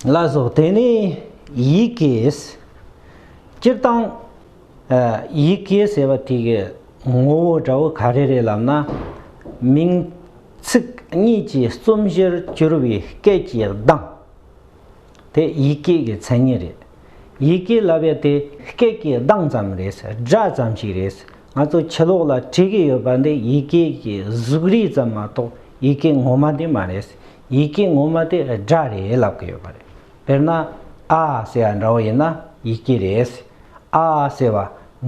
ལ་སོགས་དེ་ནི་ཡིད་ཀྱིས། སྤྱིར་བཏང། ཡིད་ཀྱིས་ཟེར་བ་དེ་གའི་ངོ་བོ་འདྲ་བོ་ག་རེ་རེད་ལབ་ན། མིང་ཚིག་གཉིས་ཀྱི་རྩོམ་གཞིར་གྱུར་བའི་སྐད་ཀྱི་གདངས་དེ་ཡིད་ཀྱིས་ཀྱི་མཚན་ཉིད་རེད། ཡིད་ཀྱིས་ལབ་པའི་དེ་སྐད་ཀྱི་གདངས་ཙམ་རེད། སྒྲ་ཙམ་ཞིག་རེད། ང་ཚོ་ཕྱི་ལོགས་ལ་བྲིས་ཀྱི་ཡོད་པ་འདི་ཡིད་ཀྱིས་ཀྱི་གཟུགས་རིས་ཙམ་མ་གཏོགས་ཡིད་ཀྱི་ངོ་མ་དེ་མ་རེད། ཡི་གེ་ངོ་མ་དེ་སྒྲ་རེད་ལབ་གི་ཡོད་པ་རེད། དཔེར་ན། ཨ་ཟེར་བ་འདྲ་བོ་ཡིན་ན་ཡི་གེ་རེད། ཨ་ཟེར་བ་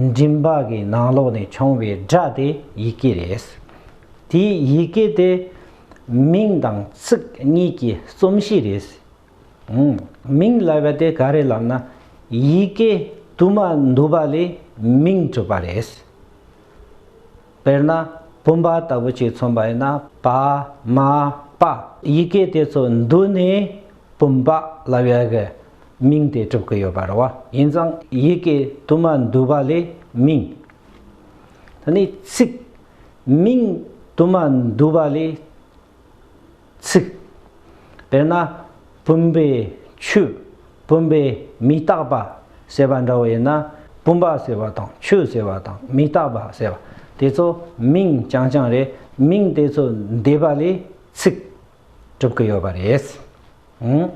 མགྲིན་པ་གི་ནང་ལོགས་ནས་བྱུང་བའི་སྒྲ་དེ་ཡི་གེ་རེད། དེ་ཡི་གེ་དེ་མིང་དང་ཚིག་གཉིས་ཀྱི་རྩོམ་གཤིས་རེད། མིང་ལབ་པ་དེ་ག་རེད་ལབ་ན། ཡི་གེ་དུ་མ་འདུ་བ་ལས་མིང་གྲུབ་པ་རེད། དཔེར་ན། བུམ་པ་ལྟ་བུ་གཅིག་མཚོན་པ་ཡིན་ན་པདྨ་པདྨ། ཡི་གེ་དེ་ཚོ་འདུས་ནས་བུམ་པ་ལ་བའི་གི་མིང་དེ་གྲུབ་ཀྱི་ཡོད་པ་རེད་བ། ཡིན་ཙང་ཡི་གེ་དུ་མ་འདུས་པ་ལས་མིང། ད་ནི་ཚིག། མིང་དུ་མ་འདུས་པ་ལས། ཚིག། དཔེར་ན། བུམ་པའི་ཆུ། བུམ་པའི་མི་རྟག་པ། ཟེར་བ་འདྲ་བོ་ཡིན་ན། བུམ་པ་ཟེར་བ་དང་ཆུ་ཟེར་བ་དང་མི་རྟག་པ་ཟེར་བ་དེ་ཚོ་མིང་རྐྱང་རྐྱང་རེད་མིང་དེ་ཚོ་འདས་པ་ལས་ཚིག། གྲུབ་ཀྱི་ཡོད་པ་རེད།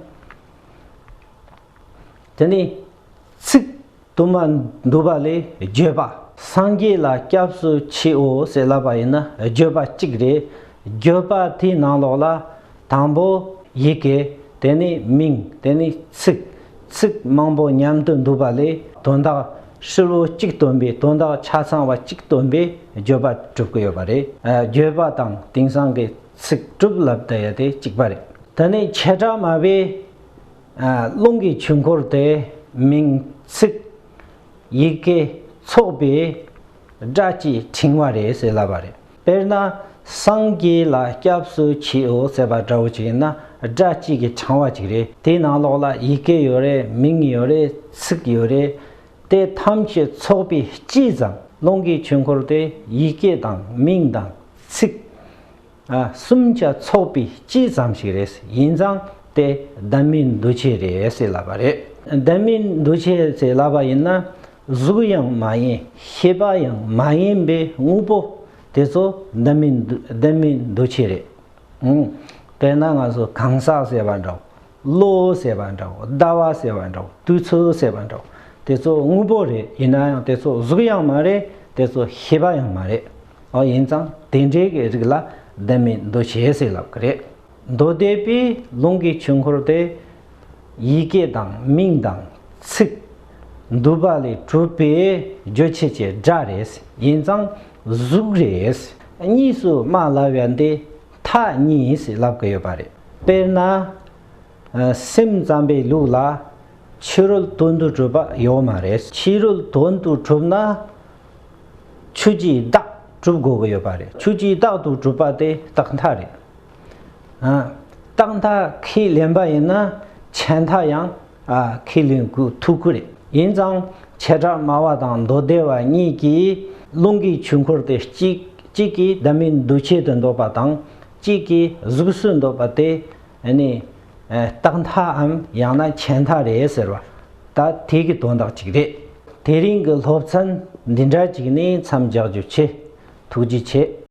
དེ་ནས་ཚིག། དུ་མ་འདུས་པ་ལས་བརྗོད་པ། སངས་རྒྱས་ལ་སྐྱབས་སུ་མཆིའོ་ཞེས་བསླབ་པ་ཡིན་ན་བརྗོད་པ་གཅིག་རེད། བརྗོད་པ་དེའི་ནང་ལོགས་ལ། དང་པོ། ཡི་གེ། དེ་ནས་མིང། དེ་ནས་ཚིག། ཚིག་མང་པོ་མཉམ་དུ་འདུས་པ་ལས་དོན་དག་ཧྲིལ་བོ་གཅིག་སྟོན་པའི་དོན་དག་ཆ་ཚང་བ་གཅིག་སྟོན་པའི་བརྗོད་པ་གྲུབ་ཀྱི་ཡོད་པ་རེད། བརྗོད་པ་དང་དེང་སང་གི་ཚིག་གྲུབ་ལབ་དེ་གཅིག་པ་རེད། དེ་ནས་བྱེ་བྲག་སྨྲ་བའི། རླུང་གི་ཆུ་འཁོར་དེ་མིང་ཚིག་ཡི་གེ་ཚོགས་པའི་སྒྲ་ཀྱི་ཕྲེང་བ་རེད་ཟེར་སླ་བ་རེད། དཔེར་ན་སངས་རྒྱས་ལ་སྐྱབས་སུ་མཆིའོ་ཟེར་བ་འདྲ་བོ་ཅིག་ཡིན་ན་སྒྲ་གཅིག་གི་ཕྲེང་བ་ཅིག་རེད། དེའི་ནང་ལོགས་ལ་ཡི་གེ་ཡོད་རེད་མིང་ཡོད་རེད་ཚིག་ཡོད་རེད། དེ་ཐམས་ཅད་ཚོགས་པའི་སྤྱིའི་ཙམ་རླུང་གི་ཆུ་འཁོར་དེ་ཡི་གེ་དང་མིང་དང་ཚིག། གསུམ་ཆ་ཚོགས་པའི་སྤྱི་ཙམ་ཞིག་རེད་ཡིན་ཙང་དེ་བདག་མེད་འདུ་བྱེད་རེད་ཟེར་ལབ་པ་རེད་བདག་མེད་འདུ་བྱེད་ཟེར་ལབ་པ་ཡིན་ན་གཟུགས་ཡང་མ་ཡིན་ཤེས་པ་ཡང་མ་ཡིན་པའི་དངོས་པོ་དེ་ཚོ་བདག་མེད་འདུ་བྱེད་རེད་དཔེར་ན་ང་ཚོ་གང་ཟག་ཟེར་བ་འདྲ་གློ་བོ་ཟེར་བ་འདྲའོ་ཟླ་བ་ཟེར་བ་འདྲའོ་དུས་ཚོད་ཟེར་བ་འདྲའོ་དེ་ཚོ་དངོས་པོ་རེད་ཡིན་ན་ཡང་དེ་ཚོ་གཟུགས་ཡང་མ་རེད་དེ་ཚོ་ཤེས་པ་ཡང་མ་རེད་ཨོ་ཡིན་ཙང་དེ་འདྲའི་གི་རིགས་ལ་བདེན་མེད་འདུ་བྱེད་ཟེར་ལབ་གི་རེད་མདོ་སྡེ་པའི་ལུང་གི་ཆོས་འཁོར་དེ་ཡི་གེ་དང་མིང་དང་ཚིག་འདུས་པ་ལས་གྲུབ་པའི་རྗོད་བྱེད་ཀྱི་སྒྲ་རེད་ཡིན་ཙང་གཟུགས་རེད་གཉིས་སུ་སྨྲ་སླ་བས་འདི་ཐག་གཉིས་ལབ་ཀི་ཡོད་པ་རེད། དཔེར་ན། སེམས་ཙམ་པའི་ལུགས་ལ། ཕྱི་རོལ་དོན་དུ་གྲུབ་པ་ཡོད་མ་རེད། ཕྱི་རོལ་དོན་དུ་གྲུབ་ན། ཆོས་ཀྱིས་བདག་གྲུབ་དགོས་ཀི་ཡོད་པ་རེད། ཆོས་ཀྱིས་བདག་ཏུ་གྲུབ་པ་དེ་རྟག་མཐའ་རེད། རྟག་མཐའ་ཁས་ལེན་པ་ཡིན་ན། ཆད་མཐའ་ཡང་ཁས་ལེན་གུ་ཐུག་གུ་རེད། ཡིན་ཙང་བྱེ་བྲག་སྨྲ་བ་དང་མདོ་སྡེ་བ་གཉིས་ཀྱིས་རླུང་གི་ཆུ་འཁོར་དེ་གཅིག་གཅིག་གིས་བདག་མེད་འདུ་བྱེད་དུ་འདོད་པ་དང་གཅིག་གིས་གཟུགས་སུ་འདོད་པ་དེ་ནི་རྟགས་མཐའམ་ཡང་ན་བྱེད་མཐའ་རེད་ཟེར་བ་ད་ཐེག་གི་དོན་དག་ཅིག་རེད། དེ་རིང་གི་སློབ་ཚན་འདི་འདྲ་ཅིག་ནི་མཚམས་རྒྱག་རྒྱུ་ཆེ། ཐུགས་རྗེ་ཆེ།